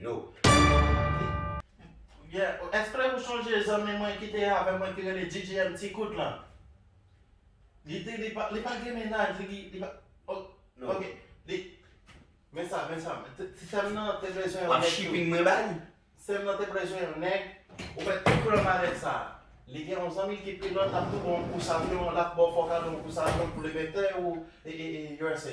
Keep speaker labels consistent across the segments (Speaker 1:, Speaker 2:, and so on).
Speaker 1: No.
Speaker 2: Yeah, èske ou sonje zanmi mwen ki te avè mwen ki rele GGM Ti Kout lan? Li di li pa, li pa gen mennaj, li, li pa, o, No. Ok,
Speaker 1: li,
Speaker 2: men sa, men sa, t, ti sè m nan te bezwen yon Wap nèg tou. shipping mwen ba li?
Speaker 1: Sè m nan te bezwen
Speaker 2: yon nèg, ou wè tout plan malèt sa a. Li gen yon zanmi l ki pilòt, l ap tou ba w yon kous avyon, l ap ba w fòkadò yon kous avyon pou Lebètè ou e, e, e usa.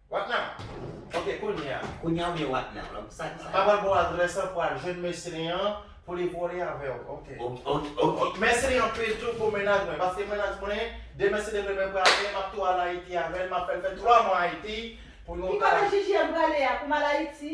Speaker 2: What now? Ok, kounye a. Kounye a oubyen what now?
Speaker 1: Lòm sa di sa. Pa pral ba w adrès
Speaker 2: lan pou al jwenn mesye li an pou li vole avè w. Ok. Ok. Mèsi li anpil tou pou mennaj mwen. Paske mennaj mwen, demen si li vle mwen prale, m ap tou al Ayiti avè l. M ap fè l fè 3 mwa Ayiti pou nou ka. Ki kote JJM prale
Speaker 3: a pou m al Ayiti?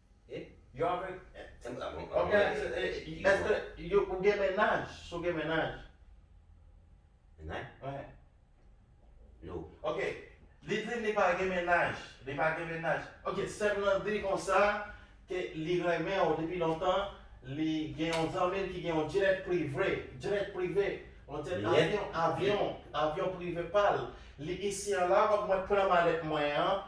Speaker 2: You are very Ok Eske you ou gen mennaj Si w gen mennaj
Speaker 1: Mennaj? Wen No Ok
Speaker 2: Li di li pa gen mennaj Li pa gen mennaj Ok Sè m nan di konsa Ke li renmen w depi lontan Li gen yon zanmi l ki gen yon jet prive Jet prive Yon jet avyon Avyon Avyon prive pa l Li isi an la Fòk mwen pran malèt mwen an